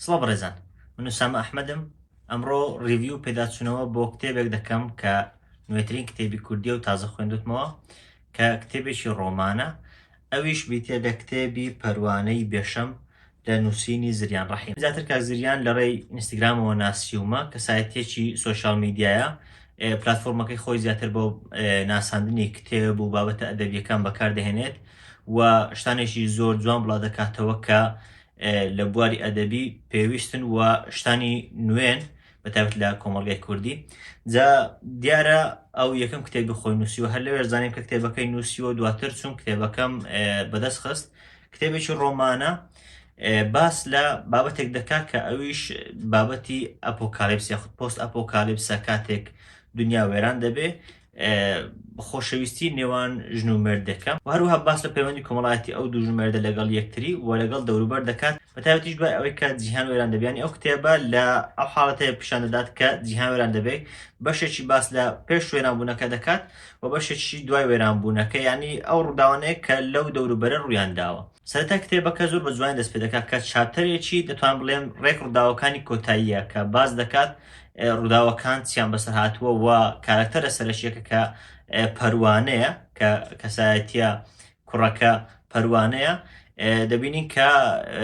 سڵ بڕێزان من سامە ئەحمەدم ئەمڕۆ ریڤیو پێداچوونەوە بۆ کتێبێک دەکەم کە نوێترین کتێبی کوردیە و تازە خوێندوتمەوە کە کتێبێکی ڕۆمانە ئەویش بیتە لە کتێبی پەروانەی بێشەم لە نووسینی زریان ڕەحیم. زیاتر کاک زریان لە ڕێی ئینستگرامەوە ناسیومە، کەسایەتییەکی سۆشیال میدیایە، پلاتفۆرمەکەی خۆی زیاتر بۆ ناساندنی کتێب و بابەتە ئەدەبییەکان بەکار دەهێنێت و شتانێکی زۆر جوان بڵا دەکاتەوە کە لە بواری ئەدەبی پێویستن و شتانی نوێن بە تایبەت لە کۆمەڵگای کوردی جا دیارە ئەو یەکەم کتێبی خۆی نووسیوە هەر لەوێش زانیم کە کتێبەکەی نووسیوە دواتر چون کتێبەکەم بەدەست خست کتێبێکی ڕۆمانە باس لە بابەتێک دەکات کە ئەویش بابەتی ئەپۆکالیپس یاخود پۆست ئەپۆکالیپسە کاتێک دنیا وێران دەبێ خۆشەویستی نێوان ژن و مرد دەکەم و هەروها باس لە پەیوەندی کۆمەڵایەتی ئەو دوو ژمێردە لەگەڵ یەکتری و لەگەڵ دەوروبەر دەکات بەتابەتیش دوای ئەوەی کە جیهان وێران دەبیانی ئەو کتێبە لە ئەو حاڵەتەیە پیشان دەدات کە جیهان وێران دەبێت بەشێکی باس لە پێش وێرانبوونەکە دەکات و بەشێکیشی دوای وێرانبوونەکە، یانی ئەو ڕووداوانەیە کە لەو دەوروبەرە ڕوویان داوە. سەرەتای کتێبەکە زۆر بە جوانی دەست پێ دەکات کە چاپتەرێکی، دەتوانم بڵێم، ڕێک ڕووداوەکانی کۆتاییە کە باس دەکات ڕووداوەکان چیان بەسەر هاتووە و کارەکتەرە سەرەکییەکە کە پەروانەیە کە کەسایەتییە کوڕەکە پەروانەیە دەبینین کە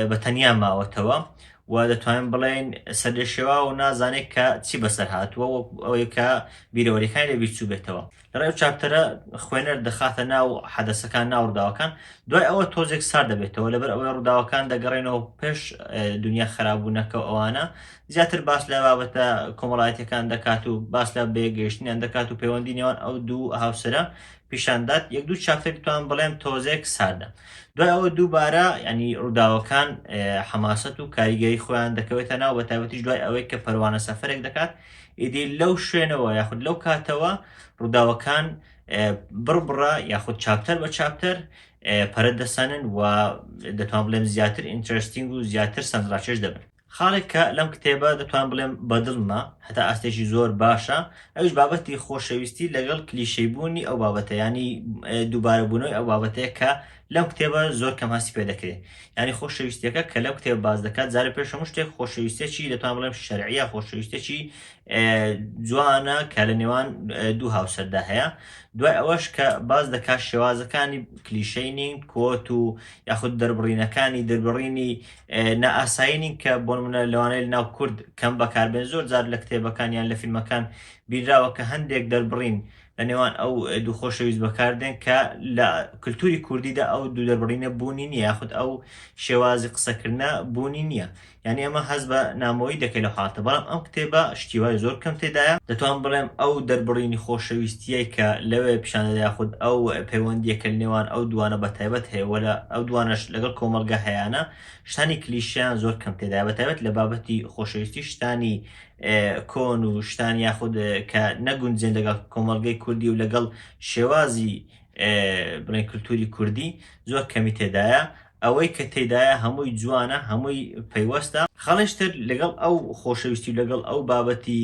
بە تەنیا ماوەتەوە و دەتوانین بڵێن سەرلێشێوا و نازانێت کە چی بەسەر هاتووە وەک ئەوەی کە بیرەوەریەکانی لە بیرچوو بێتەوە لەڕێ و چاپتەرە خوێنەر دەخاتە ناو حەدەسەکان ناو ڕووداوەکان دوای ئەوە تۆزێک سار دەبێتەوە لەبەر ئەوەی ڕووداوەکان دەگەڕێنەوە پێش دنیا خراببوونەکە ئەوانە زیاتر باس لە بابەتە کۆمەڵایەتەکان دەکات و باس لە بێگەیشتنیان دەکات و پەیوەندی نێوان ئەو دوو هاوسرە پیشان دات یەک دوو چاپتر بتوانم بڵێم تۆزێک ساردە دوای ئەوە دووبارە ینی ڕووداوەکان حەماسەت و کاریگەری خۆیان دەکەوێتە ناو بە تایبەتیش دوای ئەوەی کە پەروانە سەفرێک دەکات ئیدی لەو شوێنەوە یاخود لەو کاتەوە ڕووداوەکان بڕبڕە یاخود چاپتەر بە چاپتەر پەرە دەسەنن و دەتوان بڵێم زیاتر ئینترستینگ و زیاتر سەنجڕاکێش دەبن خاڵێک کە لەم کتێبە دەتوانم بڵێم بەدڵمە هەتا ئاستێکی زۆر باشە ئەویش بابەتی خۆشەویستی لەگەڵ کلیشەی بوونی ئەو بابەتە یانی دووبارە بوونەوەی ئەو بابەتەیە کە لەم کتێبە زۆر کەم هەستی پێ دەکرێت یانی خۆشەویستیەکە کە لەم کتێب باز دەکات جارە پێش هەموو شتێک خۆشەویستێکی دەتوان بڵێم شەرعە خۆشەویستێکی جوانە کە لە نێوان دوو هاوسەردا هەیە دوای ئەوەش کە باز دەکات شێوازەکانی کلیشەی نین کۆت و یاخود دەربڕینەکانی دەربڕینی نائاسایی نین کە بۆ نموونە لەوانەیە لەناو کورد کەم بەکاربێن زۆر جار لە کتێبەکان یان لە فیلمەکان بینراوە کە هەندێک دەربڕین لە نێوان ئەو دوو خۆشەویست بەکاردێن کە لە کللتوری کوردیدا ئەو دوو دەربڕینە بوونی نییە یاخود ئەو شێوازی قسەکردە بوونی نییە یعنی ئەمە هەست بە نامۆیی دەکەی لە حاڵتە بەڵام ئەم کتێبە شتیوای زۆر کەم تێدایە. دەتوانم بڵێم ئەو دەربڕینی خۆشەویستییەی کە لەوێ پیشاندەدا یاخود ئەو پەیوەندییە کە لەنێوان ئەو دووانە بەتایبەت هەیە و ئەو دووانەش لەگەڵ کۆمەڵگە هەیانە شتانی کلیشەیان زۆر کەم تێدایە بەتایبەت لە بابەتی خۆشەویستی شتانی کۆن و شتان یاخود کە نەگونجێن لەگەڵ کۆمەڵگەی کوردی و لەگەڵ شێوازی بڵێن کلتوری کوردی زۆر کەمی تێدایە ئەوەی کە تێدایە هەمووی جوانە، هەمووی پەیوەستە. خاڵێکی تر لەگەڵ ئەو خۆشەویستی و لەگەڵ ئەو بابەتی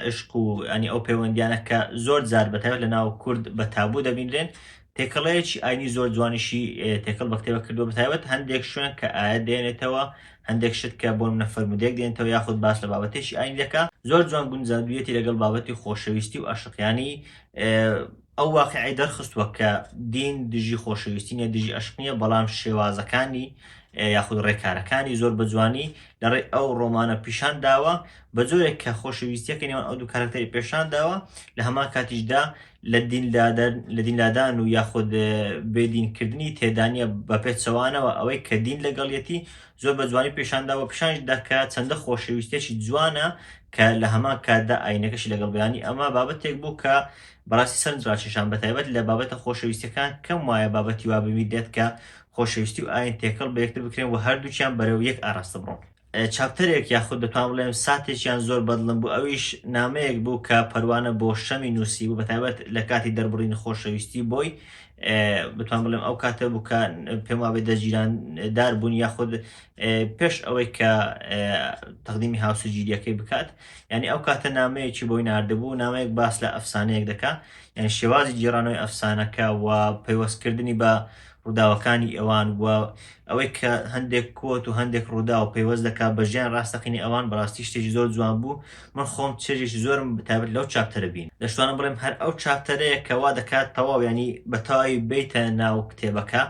عیشق و یانی ئەو پەیوەندییانە کە زۆر جار بە تایبەت لە ناو کورد بە تابوو دەبینرێن، تێکەڵەیەکی ئاینی زۆر جوانیشی تێکەڵ بە کتێبەکە کردووە، بە تایبەت هەندێک شوێن کە ئایەت دێنێتەوە، هەندێک شت کە بۆ نموونە فەرموودەیەک دێنێتەوە یاخود باس لە بابەتێکی ئاینی دەکا، زۆر جوان گونجاندوویەتی لەگەڵ بابەتی خۆشەویستی و ئەشق، یانی ئەو واقیعەی دەرخستووە کە دین دژی خۆشەویستی نیە، دژی ئەشق نیە، بەڵام شێوازەکانی یاخود ڕێکارەکانی زۆر بە جوانی لە ڕێی ئەو ڕۆمانە پیشان داوە، بە جۆرێک کە خۆشەویستیەکەی نێوان ئەو دوو کارەکتەری پێشان داوە، لە هەمان کاتیشدا لە دین لادەر لە دین لادان و یاخود بێ دین کردنی تێدا نیە، بە پێچەوانەوە ئەوەی کە دین لەگەڵیەتی زۆر بە جوانی پیشان داوە و پیشانیش دا کە چەندە خۆشەویستیەکی جوانە کە لە هەمان کاتدا ئاینەکەشی لەگەڵ بیانی، ئەمە بابەتێک بوو کە بەڕاستی سەرنج ڕاکێشام بەتایبەت لە بابەتە خۆشەویستیەکان کەم وایە بابەتی وا ببیت دێت کە خۆشەویستی و ئاین تێکەڵ بە یەکتر بکرێن و هەردووکیان بەرەو یەک ئاراستە بڕۆن چاپتەرێک یاخود دەتوان بڵێم ساتێکیان زۆر بەدڵم بوو ئەویش نامەیەک بوو کە پەروانە بۆ شەمی نووسی بوو بەتایبەت لە کاتی دەربڕین خۆشەویستی بۆی بتوان بڵێم ئەو کاتە بوو کە پێم وابێ دەجیراندار بوون یاخود پێش ئەوەی کە تەقدیمی هاوسەرگیریەکەی بکات یانی ئەو کاتە نامەیەکی بۆی ناردبوو، نامەیەک باس لە ئەفسانەیەک دەکا، یانی شێوازی گێڕانەوەی ئەفسانەکە و پەیوەست کردنی بە ڕووداوەکانی ئەوان و ئەوەی کە هەندێک کۆت و هەندێک ڕووداو پەیوەست دەکا بە ژیانی ڕاستەقینەی ئەوان بەڕاستی شتێکی زۆر جوان بوو، من خۆم چێژێکی زۆرم تایبەت لەو چاپتەرە بینی. دەشتوانم بڵێم هەر ئەو چاپتەرەیە کە وا دەکا تەواو یانی بە تەواوی بێیتە ناو کتێبەکە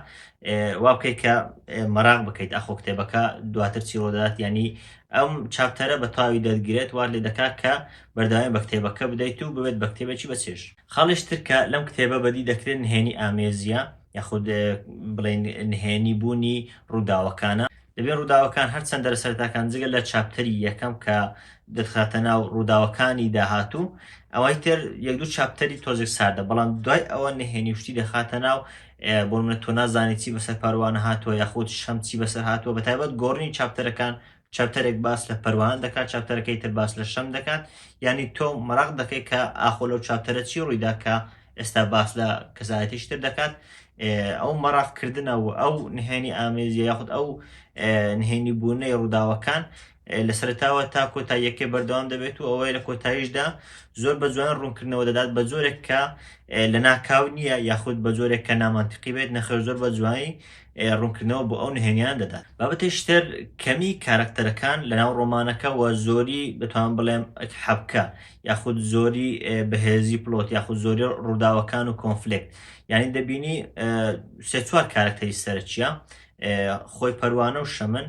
وا بکەی کە مەراق بکەیت ئاخۆ کتێبەکە دواتر چی ڕوودەدات یانی ئەم چاپتەرە بە تەواوی دەتگرێت، وات لێ دەکات کە بەردەوامی بە کتێبەکە بدەیت و ببێت بە کتێبێکی بە چێژ. خاڵیش تر کە لەم کتێبە بەدی دەکرێت نهێنی ئامێزییە، یاخود بڵێین نهێنی بوونی ڕووداوەکانە. دەبێت ڕووداوەکان هەر چەند دەرە سەرەتاکان جگە لە چاپتەری یەکەم کە دەتخاتە ناو ڕووداوەکانی داهاتوو، ئەوەی تر یەک دوو چاپتەری تۆزێک ساردە، بەڵام دوای ئەوە نهێنی و شتی دەخاتە ناو، بۆ نمونە تۆ نازانی چی بەسەر پەروانە هاتووە یاخود شەم چی بەسەر هاتووە بە تایبەت گۆڕنی چاپتەرەکان چاپتەرێک باس لە پەروانە دەکات چاپتەرەکەی تر باس لە شەم دەکات یعنی تۆ مەراق دەکەی کە ئاخۆ لەو چاپتەرە چی ڕوویدا کە ئێستا باس لە کەسایەتیش تر دەکات ئەو مەراقکردنە و ئەو نهێنی ئامێزی یاخود ئەو نهێنی بوونەی ڕووداوەکان لە سەرەتاوە تا کۆتاییەکەی بەردەوام دەبێت و ئەوەیە لە کۆتاییشدا زۆر بە جوان ڕوونکردنەوە دەدات بە جۆرێک کە لە ناکاو نییە یاخود بە جۆرێک کە نامانتیقی بێت نەخێر زۆر بە جوانی ڕوونکردنەوە بۆ ئەو نهێنیان دەدات بابەتێکی تر کەمی کارەکتەرەکان لەناو ڕۆمانەکە وە زۆری دەتوانم بڵێم حەبکە یاخود زۆری بەهێزی پڵۆت یاخود زۆری ڕووداوەکان و کۆنفلکت یعنی دەبینی سێ چوار کارەکتەری سەرچیە خۆی پەروانە و شەمن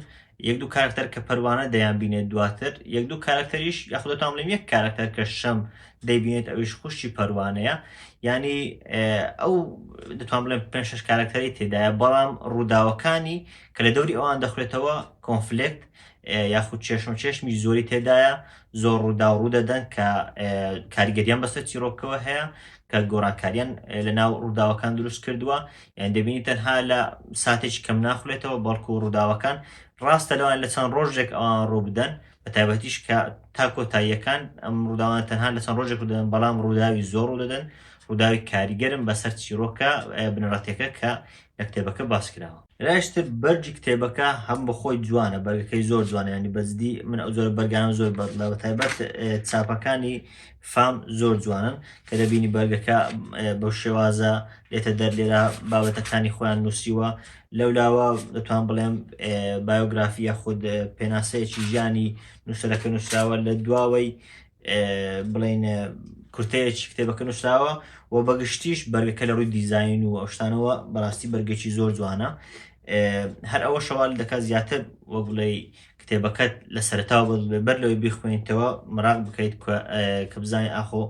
یەک دوو کارەکتەر کە پەروانە دەیانبینێت دواتر یەک دوو کارەکتەریش یاخود دەتوانم بڵێم یەک کارەکتەر کە شەم دەیبینێت ئەویش خوشکی پەروانەیە یانی ئەو دەتوان بڵێم پێ شش کارەکتەری تێدایە بەڵام ڕووداوەکانی کە لە دەوری ئەوان دەخورێتەوە کۆنفلکت یاخود چێشم چێشمی زۆری تێدایە زۆر ڕوودا و ڕوودەدەن کە کاریگەریان بەسەر چیرۆکەوە هەیە کە گۆڕانکاریان لە ناو ڕووداوەکان دروست کردووە یانی دەبینی تەنها لە ساتێکی کەم ناخولێتەوە بەڵکو ڕووداوەکان ڕاستە لەوان لە چەند ڕۆژێک ئەوان ڕوو بدەن بە تایبەتیش کە تا کۆتاییەکان ئەم ڕووداوان تەنها لە چەند ڕۆژێک دەن بەڵام ڕووداوی زۆر ڕوو دەدەن ڕووداوی کاریگەرم بەسەر چیرۆکە بنەڕەتەکە کە لە کتێبەکە باس کراوە لاشتر بەرگی کتێبەکە هەم بەخۆی جوانە بەرگەکەی زۆر جوانیانی بەجددی من ئەو زۆر بەرگانم زۆر بەدڵە بە تایبەت چاپەکانی فام زۆر جوانن کە دەبینی بەرگەکە بەو شێوازە لێتە دەر لێرە بابەتەکانی خۆیان نووسیوە لەولاوە دەتوان بڵێم بایۆگرافیە خود پێناسەیەکی ژیانی نووسەرەکە نووسراوە لە دواوەی بڵین کورتەیەکی کتێبەکە نووسراوە و بەگشتیش بەرگەکە لە ڕووی دیزین و ئەوشتانەوە بەڕاستی بەرگێکی زۆر جوانە هەر ئەوە شەوال دەکات زیاتر وەگوڵی کتێبەکەت لە سەرەتاوە بەدڵ بێ بەر لەوەی بیخوێنیتەوە مەراق بکەیت کە بزانین ئاخۆ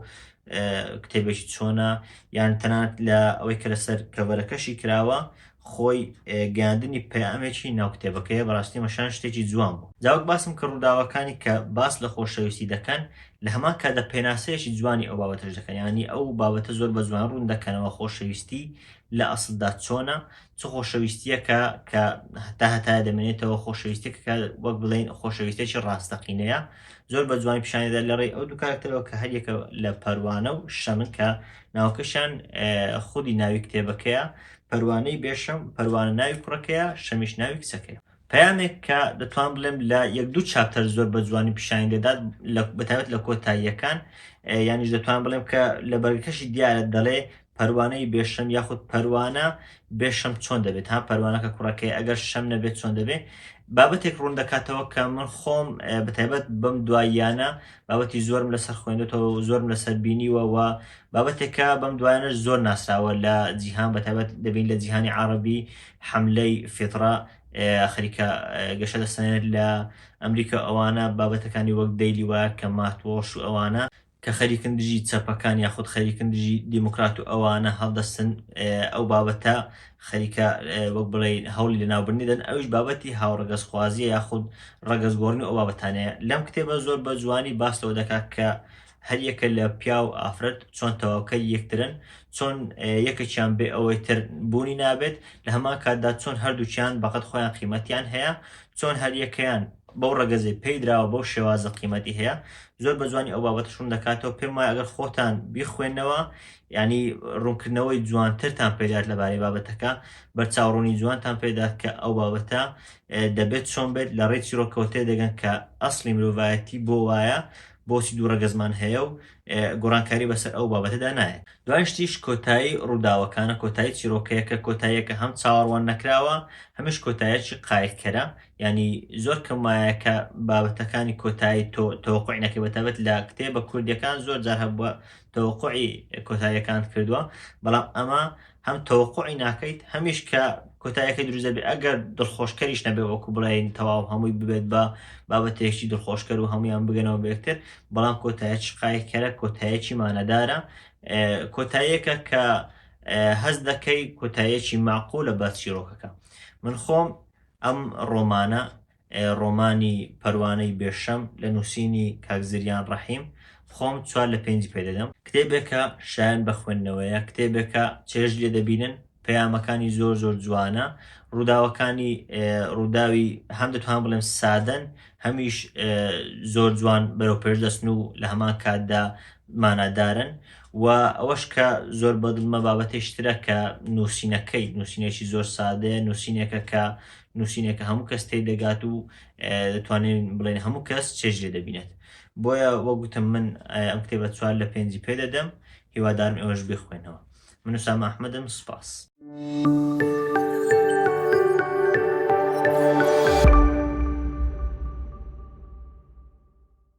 کتێبێکی چۆنە یان تەنات لە ئەوەی کە لەسەر کەڤەرەکەشی کراوە خۆی گاندنی پەیامێکی ناو کتێبەکەیە بەڕاستی مەشان شتێکی جوان بوو جاوک باسم کە ڕووداوەکانی کە باس لە خۆشەویستی دەکەن لە هەمان کاتدا پێناسەیەکی جوانی ئەو بابەتەش دەکەن ینی ئەو بابەتە زۆر بە جوان ڕوون دەکەنەوە خۆشەویستی لە ئەسلدا چۆنە چ خۆشەویستییەکە کە تا هەتایە دەمێنێتەوە، خۆشەویستییەکە کە وەک بڵێین خۆشەویستێکی ڕاستەقینەیە، زۆر بە جوانی پیشانی دەدات لە ڕێی ئەو دوو کارەکتەرەوە کە هەر یەکە لە پەروانە و شەمن کە ناوەکەشیان خودی ناوی کتێبەکەیە، پەروانەی بێشەم، پەروانە ناوی کوڕەکەیە، شەمیش ناوی کچەکەیە. پەیامێک کە دەتوانم بڵێم لە یەک دوو چاپتەر زۆر بە جوانی پیشانی دەدات بەتابەت لە کۆتاییەکان یانیش دەتوان بڵێم کە لە بەرگەکەشی دیارە دەڵێ پەروانەی بێشەم یاخود پەروانە بێشەم چۆن دەبێت ها پەروانەکە کوڕەکەی ئەگەر شەم نەبێت چۆن دەبێت بابەتێک ڕوون دەکاتەوە کە من خۆم بەتایبەت بەم دواییانە بابەتی زۆرم لەسەر خوێندێتەوە زۆرم لەسەر بینیوە و بابەتێکە بەم دوایانە زۆر ناسراوە لە جیهان بەتابەت دەبین لە جیهانی عربی حەملەی فیتڕە خەریکە گەشە دەسەنێت لە ئەمریکا ئەوانە بابەتەکانی وەک دەیلی وایەر کە مات وۆڵش و ئەوانە کە خەریکن دژی چەپەکان یاخود خەریکن دژی دیموکرات و ئەوانە هەڵدەستن ئەو بابەتە خەریکە وەک بڵێ هەوڵی لەناوبرنی دەن ئەوش بابەتی هاوڕەگەزخوازیە یاخود ڕەگەزگۆڕنی ئەو بابەتانەیە لەم کتێبە زۆر بە جوانی باس لەوە دەکات کە هەر یەکە لە پیاو ئافرەت چۆن تەواوکەری یەکترن، چۆن یەکەکیان بێ ئەوەی تر بوونی نابێت، لە هەمان کاتدا چۆن هەردووکیان بەقەد خۆیان قیمەتیان هەیە، چۆن هەر یەکەیان بەو ڕەگەزەی پێی دراوە بەو شێوازە قیمەتی هەیە، زۆر بە جوانی ئەو بابەتەش ڕوون دەکاتەوە، پێم وایە ئەگەر خۆتان بیخوێننەوە یانی ڕوونکردنەوەی جوانترتان پێ دەات لەبارەی بابەتەکە، بەرچاوڕوونی جوانتان پێ دەات کە ئەو بابەتە دەبێت چۆن بێت، لە ڕێی چیڕۆکەوە تێدەگەن کە ئەسڵی مرۆڤایەتی بۆ وایە، بۆچی دوو ڕەگەزمان هەیە و گۆڕانکاری بەسەر ئەو بابەتەدا نایەت. دوای شتیش کۆتایی ڕووداوەکانە، کۆتایی چیرۆکەیەکە، کۆتاییەکە هەم چاوەڕوان نەکراوە، هەمیش کۆتاییەکی قایلکەرە، یانی زۆر کەم وایە کە بابەتەکانی کۆتایی تۆ تەوەقوعی نەکەی، بەتایبەت لە کتێبە کوردییەکان زۆر جار هەبووە تەوەقوعی کۆتاییەکانت کردووە، بەڵام ئەمە هەم تەوەقوعی ناکەیت هەمیش کە کۆتایەکەی دروست دەبێت ئەگەر دڵخۆشکەریش نەبێ وەکو بڵێن تەواو هەمووی ببێت بە بابەتێکی دڵخۆشکەر و هەمویان بگەنەوە بێکتر بەڵام کۆتایە شقایکەرە کۆتایەکی مانەدارە کۆتایەکە کە هەز دەکەی کۆتایەکی معقولە بە چیرۆکەکە من خۆم ئەم ڕۆمانە ڕۆمانی پەروانەی بێ شەم لە نووسینی کاک زریان ڕەحیم خۆم چوار لە پێنجی پێ دەدەم. کتێبێکە شایەن بە خوێندنەوەیە، کتێبێکە چێژ لێ دەبینن، پەیامەکانی زۆر زۆر جوانە، ڕووداوەکانی ڕووداوی هەم دەتوانم بڵێم سادەن، هەمیش زۆر جوان بەرەوپێش دەچن و لە هەمان کاتدا مانادارن و ئەوەش کە زۆر بەدڵمە بابەتێکی ترە کە نووسینەکەی نووسینێکی زۆر سادەیە، نووسینێکە کە نووسینێکە هەموو کەس تێی دەگات و دەتوانین بڵێن هەموو کەس چێژ لێ دەبینێت بۆیە وەک گوتم من ئەم کتێبە چوار لە پێنجی پێ دەدەم هیوادارم ئێوەش بخوێنەوە من سام ئەحمەدم سپاس.